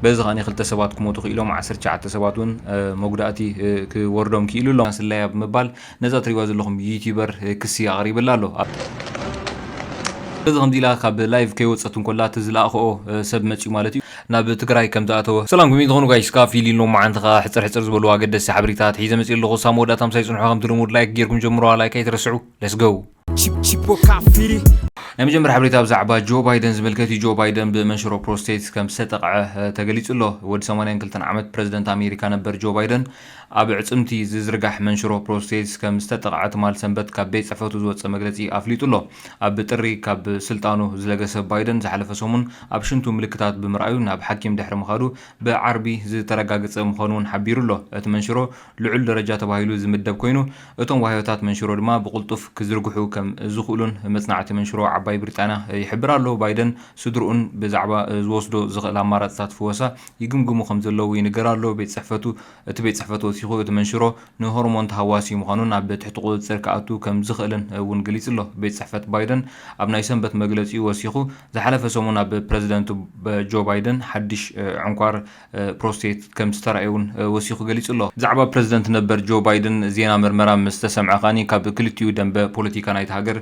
በዚ ከኣ ክልተ ሰባት ክሞቱ ክኢሎም ዓሰርተ ትሽዓተ ሰባት እውን መጉዳእቲ ክወርዶም ክኢሉ ኣሎ። ስለያ ብምባል ነዛ ትሪእዋ ዘለኹም ዩቲዩበር ክሲ ኣቕሪብላ ኣሎ። በዚ ከምዚ ኢላ ካብ ላይቭ ከይወጸት እንኮላ እቲ ዝለኣኸኦ ሰብ መጽዩ ማለት እዩ ናብ ትግራይ ከም ዝኣተወ። ሰላም ከመይ ትኾኑ ጋይስ ከኣ ፊሊ ሎሚ መዓንቲ ከኣ ሕጽር ሕጽር ዝበሉ ኣገደስቲ ሓበሬታታት ሒዘ መጽየ ኣለኹ። ክሳብ መወዳእታ ምሳይ ጽንሑ ከምቲ ልሙድ ላይክ ጌርኩም ጀምርዋ ላይክ ኣይትረስዑ። Let's go! ናይ መጀመርያ ሓበሬታ ብዛዕባ ጆ ባይደን ዝምልከት እዩ። ጆ ባይደን ብመንሽሮ ፕሮስቴት ከም ዝተጠቕዐ ተገሊጹ ኣሎ። ወዲ 82 ዓመት ፕረዚደንት ኣሜሪካ ነበር ጆ ባይደን ኣብ ዕጽምቲ ዝዝርጋሕ መንሽሮ ፕሮስቴት ከም ዝተጠቕዐ ትማል ሰንበት ካብ ቤት ጽሕፈቱ ዝወጸ መግለጺ ኣፍሊጡ ኣሎ። ኣብ ጥሪ ካብ ስልጣኑ ዝለገሰ ባይደን ዝሓለፈ ሰሙን ኣብ ሽንቱ ምልክታት ብምርኣዩ ናብ ሓኪም ድሕሪ ምኻዱ ብዓርቢ ዝተረጋገጸ ምዃኑ እውን ሓቢሩ ኣሎ። እቲ መንሽሮ ልዑል ደረጃ ተባሂሉ ዝምደብ ኮይኑ፣ እቶም ዋህዮታት መንሽሮ ድማ ብቕልጡፍ ክዝርግሑ ከም ዝኽእሉን መጽናዕቲ መንሽሮ ዓባይ ብሪጣንያ ይሕብር ኣሎ። ባይደን ስድርኡን ብዛዕባ ዝወስዶ ዝኽእል ኣማራጽታት ፍወሳ ይግምግሙ ከም ዘለዉ ይንገር ኣሎ። ቤት ጽሕፈቱ እቲ ቤት ጽሕፈት ወሲኹ እቲ መንሽሮ ንሆርሞን ተሃዋሲ ምዃኑን ኣብ ትሕቲ ቁጽጽር ክኣቱ ከም ዝኽእልን እውን ገሊጹ ኣሎ። ቤት ጽሕፈት ባይደን ኣብ ናይ ሰንበት መግለጺኡ ወሲኹ፣ ዝሓለፈ ሰሙን ኣብ ፕረዚደንት ጆ ባይደን ሓድሽ ዕንኳር ፕሮስቴት ከም ዝተራእየ'ውን ወሲኹ ገሊጹ'ሎ። ብዛዕባ ፕረዚደንት ነበር ጆ ባይደን ዜና ምርመራ ምስ ተሰምዐ ከኣ ካብ ክልቲኡ ደምበ ፖለቲካ ናይታ ሃገር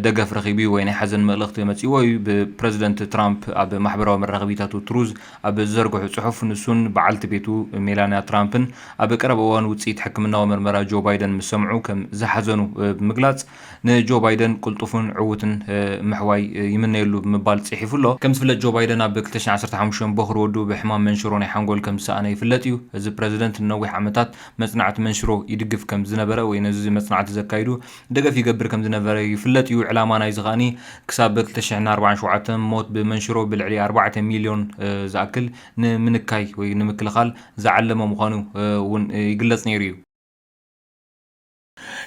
ደገፍ ረኺቡ'ዩ ወይ ናይ ሓዘን መልእኽቲ መጺኡዎ'ዩ። ብፕረዚደንት ትራምፕ ኣብ ማሕበራዊ መራኸቢታቱ ትሩዝ ኣብ ዝዘርግሖ ጽሑፍ፣ ንሱን በዓልቲ ቤቱ ሜላንያ ትራምፕን ኣብ ቀረባ እዋን ውጽኢት ሕክምናዊ ምርመራ ጆ ባይደን ምስ ሰምዑ ከም ዝሓዘኑ ብምግላጽ፣ ንጆ ባይደን ቅልጡፍን ዕዉትን ምሕዋይ ይምነየሉ ብምባል ጽሒፉ ኣሎ። ከም ዝፍለጥ ጆ ባይደን ኣብ ክልተ ሽሕ ዓሰርተ ሓሙሽተ ቦኽሪ ወዱ ብሕማም መንሽሮ ናይ ሓንጎል ከም ዝሰኣነ ይፍለጥ እዩ። እዚ ፕረዚደንት ንነዊሕ ዓመታት መጽናዕቲ መንሽሮ ይድግፍ ከም ዝነበረ ወይ ነዚ መጽናዕቲ ዘካይዱ ደገፍ ይገብር ከም ዝነበረ ይፍለጥ እዩ። ዕላማ ናይዚ ከኣ ክሳብ ክልተ ሽሕን ኣርባዓን ሸውዓተ ሞት ብመንሽሮ ብልዕሊ ኣርባዕተ ሚልዮን ዝኣክል ንምንካይ ወይ ንምክልኻል ዝዓለመ ምዃኑ እውን ይግለጽ ነይሩ እዩ።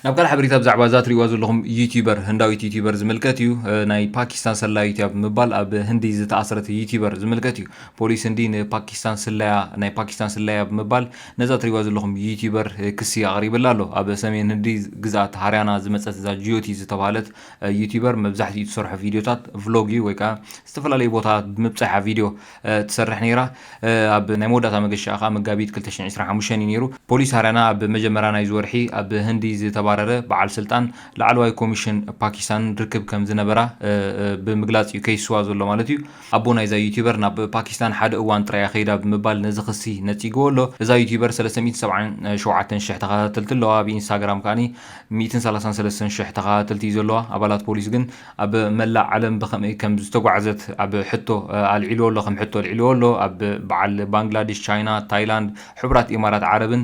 ናብ ካልእ ሓበሬታ ብዛዕባ እዛ ትሪእዋ ዘለኹም ዩቲበር ህንዳዊት ዩቲበር ዝምልከት እዩ ናይ ፓኪስታን ሰላዩ እያ ብምባል ኣብ ህንዲ ዝተኣስረት ዩቲበር ዝምልከት እዩ ፖሊስ ህንዲ ንፓኪስታን ስለያ ናይ ፓኪስታን ስለያ ብምባል ነዛ ትሪእዋ ዘለኹም ዩቲበር ክሲ ኣቕሪብላ ኣሎ ኣብ ሰሜን ህንዲ ግዝኣት ሃርያና ዝመፀት እዛ ጂዮቲ ዝተባሃለት ዩቲበር መብዛሕትኡ ትሰርሖ ቪድዮታት ቭሎግ እዩ ወይ ከዓ ዝተፈላለዩ ቦታታት ብምብፃሕ ቪድዮ ትሰርሕ ነይራ። ኣብ ናይ መወዳእታ መገሻኣ ከኣ መጋቢት ክልተ ሽሕን ዕስራን ሓሙሽተን እዩ ነይሩ። ፖሊስ ሃርያና ኣብ መጀመርያ ናይዚ ወርሒ ኣብ ህንዲ ዝተባረረ በዓል ስልጣን ላዕለዋይ ኮሚሽን ፓኪስታንን ርክብ ከም ዝነበራ ብምግላጽ እዩ ከይስዋ ዘሎ ማለት እዩ። ኣቦ ናይዛ ዩትዩበር ናብ ፓኪስታን ሓደ እዋን ጥራይ እያ ከይዳ ብምባል ነዚ ክሲ ነጺግዎ ኣሎ። እዛ ዩትዩበር ሰለስተ ሚእትን ሰብዓን ሸውዓተን ሽሕ ተኸታተልቲ ኣለዋ። ኣብ ኢንስታግራም ከኣ ሚእትን ሰላሳን ሰለስተን ሽሕ ተኸታተልቲ እዩ ዘለዋ። ኣባላት ፖሊስ ግን ኣብ መላእ ዓለም ብኸመይ ከም ዝተጓዕዘት ኣብ ሕቶ ኣልዒልዎ ኣሎ፣ ከም ሕቶ ኣልዒልዎ ኣሎ። ኣብ በዓል ባንግላዲሽ፣ ቻይና፣ ታይላንድ፣ ሕቡራት ኢማራት ዓረብን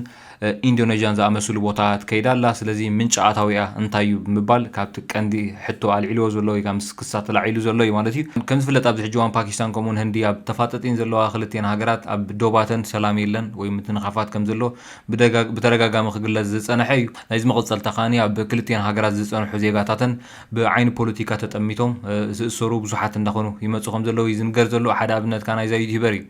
ኢንዶነዥያን ዝኣመስሉ ቦታታት ከይዳ ኣላ። ስለዚ ምንጪ ኣታዊኣ እንታይ እዩ ብምባል ካብቲ ቀንዲ ሕቶ ኣልዒልዎ ዘሎ ወይ ከኣ ምስ ክሳ ተላዒሉ ዘሎ እዩ ማለት እዩ። ከም ዝፍለጥ ኣብዚ ሕጂ እዋን ፓኪስታን ከምኡ'ውን ህንዲ ኣብ ተፋጠጢን ዘለዋ ክልቲኤን ሃገራት ኣብ ዶባተን ሰላም የለን ወይ ምትንኻፋት ከም ዘሎ ብደጋ ብተደጋጋሚ ክግለጽ ዝጸነሐ እዩ። ናይዚ መቐጸልታ ከኣ ኣብ ክልቲኤን ሃገራት ዝጸንሑ ዜጋታተን ብዓይኒ ፖለቲካ ተጠሚቶም ዝእሰሩ ብዙሓት እንዳኾኑ ይመጹ ከምዘለዉ እዩ ዝንገር ዘሎ። ሓደ ኣብነት ከኣ ናይዛ ዩትዩበር እዩ።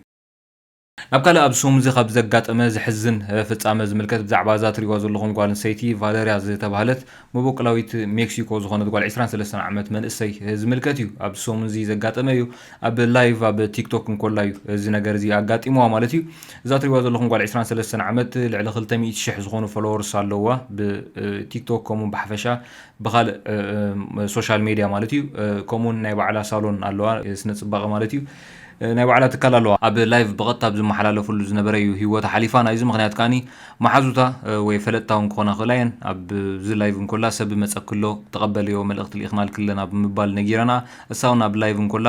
ናብ ካልእ ኣብዚ ሰሙን እዚ ካብ ዘጋጠመ ዘሕዝን ፍጻመ ዝምልከት ብዛዕባ እዛ ትርእይዋ ዘለኹም ጓል ኣንስተይቲ ቫለርያ ዝተባህለት መበቆላዊት ሜክሲኮ ዝኾነት ጓል ዕስራን ሰለስተን ዓመት መንእሰይ ዝምልከት እዩ። ኣብዚ ሰሙን እዚ ዘጋጠመ እዩ። ኣብ ላይቭ ኣብ ቲክቶክ እንኮላ እዩ እዚ ነገር እዚ ኣጋጢምዋ ማለት እዩ። እዛ ትርእይዋ ዘለኹም ጓል ዕስራን ሰለስተን ዓመት ልዕሊ ክልተ ሚእቲ ሽሕ ዝኾኑ ፎሎወርስ ኣለዉዋ ብ ቲክቶክ ከምኡ ብሓፈሻ ብኻልእ ሶሻል ሜድያ ማለት እዩ ከምኡ ውን ናይ ባዕላ ሳሎን ኣለዋ ስነ ፅባቐ ማለት እዩ ናይ ባዕላ ትካል ኣለዋ ኣብ ላይቭ ብቐጥታ ኣብ ዝመሓላለፈሉ ዝነበረ እዩ ሂወታ ሓሊፋ ናይዚ ምኽንያት ከዓኒ መሓዙታ ወይ ፈለጥታ ውን ክኾና ክእላ እየን ኣብዚ ላይቭ እንኮላ ሰብ መፀክሎ ተቐበልዮ መልእኽቲ ልኢኽናልኪ ኣለና ብምባል ነጊረንኣ እሳ ውን ኣብ ላይቭ እንኮላ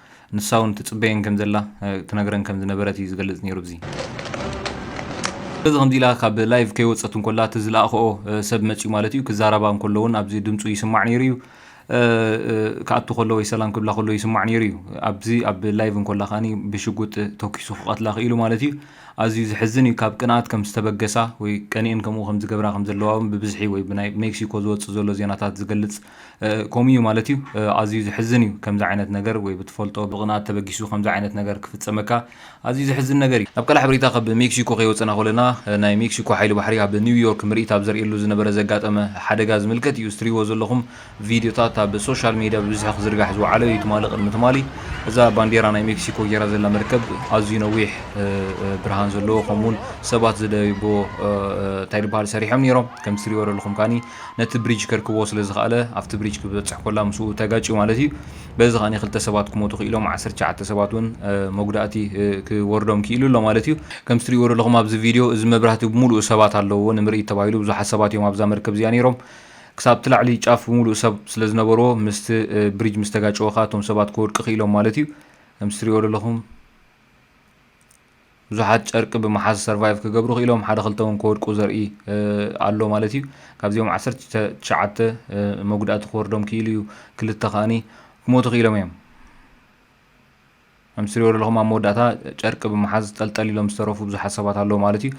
ንሳ ውን ትጽበየን ከም ዘላ ትነግረን ከም ዝነበረት እዩ ዝገልጽ ኔሩ ኣብዚ። ስለዚ ከምዚ ኢላ ካብ ላይቭ ከይወጸት እንኮላ እቲ ዝለኣኽኦ ሰብ መጽዩ ማለት እዩ ክዛረባ እንኮሎ ውን ኣብዚ ድምጹ ይስማዕ ኔሩ እዩ ክኣቱ ከሎ ወይ ሰላም ክብላ ከሎ ይስማዕ ኔሩ እዩ ኣብዚ ኣብ ላይቭ እንኮላ ከኣ ብሽጉጥ ተኪሱ ክቀትላ ክኢሉ ማለት እዩ ኣዝዩ ዝሕዝን እዩ ካብ ቅንኣት ከም ዝተበገሳ ወይ ቀኒኤን ከምኡ ከም ዝገብራ ከም ዘለዋ ውን ብብዝሒ ወይ ብናይ ሜክሲኮ ዝወጽእ ዘሎ ዜናታት ዝገልጽ ከምኡ እዩ ማለት እዩ ኣዝዩ ዝሕዝን እዩ ከምዚ ዓይነት ነገር ወይ ብትፈልጦ ብቅንኣት ተበጊሱ ከምዚ ዓይነት ነገር ክፍጸመካ ኣዝዩ ዝሕዝን ነገር እዩ። ኣብ ቀልሕ ሓበሬታ ካብ ሜክሲኮ ከይወጸና ኮለና ናይ ሜክሲኮ ሓይሊ ባሕሪ ኣብ ኒው ዮርክ ምርኢት ኣብ ዘርእየሉ ዝነበረ ዘጋጠመ ሓደጋ ዝምልከት እዩ እዚ ትሪእዎ ዘለኹም ቪድዮታት ኣብ ሶሻል ሜድያ ብብዝሒ ክዝርጋሕ ዝወዓለ እዩ ትማሊ ቅድሚ ትማሊ እዛ ባንዴራ ናይ ሜክሲኮ ጌራ ዘላ መርከብ ኣዝዩ ነዊሕ ብርሃን ዘለዎ ከምኡውን ሰባት ዝደይቦ እንታይ ዝበሃል ሰሪሖም ነይሮም ከምቲ ትሪእዎ ዘለኹም ካኒ ነቲ ብሪጅ ከርክቦ ስለ ዝኸኣለ ኣብቲ ብሪጅ ክበጽሕ ኮላ ምስኡ ተጋጭዩ ማለት እዩ። በዚ ከኣ ክልተ ሰባት ክሞቱ ክኢሎም ዓሰርተ ትሽዓተ ሰባት ውን መጉዳእቲ ክወርዶም ክኢሉ ኣሎ ማለት እዩ። ከምቲ ትሪእዎ ዘለኹም ኣብዚ ቪድዮ እዚ መብራህቲ ብምሉኡ ሰባት ኣለውዎ ንምርኢት ተባሂሉ ብዙሓት ሰባት እዮም ኣብዛ መርከብ እዚኣ ኔሮም ክሳብቲ ላዕሊ ጫፍ ብምሉኡ ሰብ ስለ ዝነበርዎ ምስቲ ብሪጅ ምስ ተጋጨወ ከኣ እቶም ሰባት ክወድቁ ክኢሎም ማለት እዩ። ከምቲ ትሪእዎ ዘለኹም። ብዙሓት ጨርቂ ብምሓዝ ሰርቫይቭ ክገብሩ ክኢሎም ሓደ ክልተ እውን ክወድቁ ዘርኢ ኣሎ ማለት እዩ ካብዚኦም ዓሰርተ ትሽዓተ መጉዳእቲ ክወርዶም ክኢሉ እዩ ክልተ ከዓኒ ክሞቱ ክኢሎም እዮም ከም ትሪኦ ዘለኹም ኣብ መወዳእታ ጨርቂ ብምሓዝ ጠልጠል ኢሎም ዝተረፉ ብዙሓት ሰባት ኣለዉ ማለት እዩ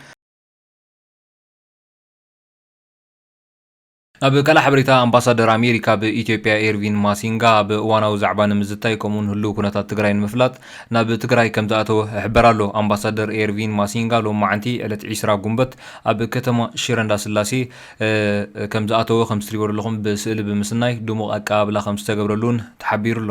ኣብ ካልእ ሓበሬታ ኣምባሳደር ኣሜሪካ ኣብ ኢትዮጵያ ኤርቪን ማሲንጋ ኣብ እዋናዊ ዛዕባ ንምዝታይ ከምኡውን ህልው ኩነታት ትግራይ ንምፍላጥ ናብ ትግራይ ከምዝኣተወ እሕበር ኣሎ። ኣምባሳደር ኤርቪን ማሲንጋ ሎማዕንቲ ዕለት ዒስራ ጉንበት ኣብ ከተማ ሽረ እንዳስላሴ ከምዝኣተወ ከምትሪእዎ ዘለኹም ብስእሊ ብምስናይ ድሙቕ ኣቀባብላ ከምዝተገብረሉ እውን ተሓቢሩ ኣሎ።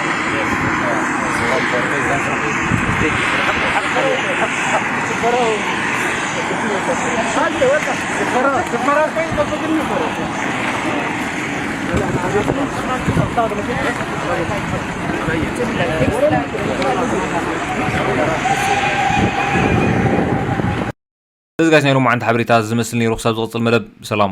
እዚ ጋሽ ናይ ሎማዓንቲ ሓበሬታ ዝመስል ነይሩ ክሳብ ዝቕፅል መደብ ሰላም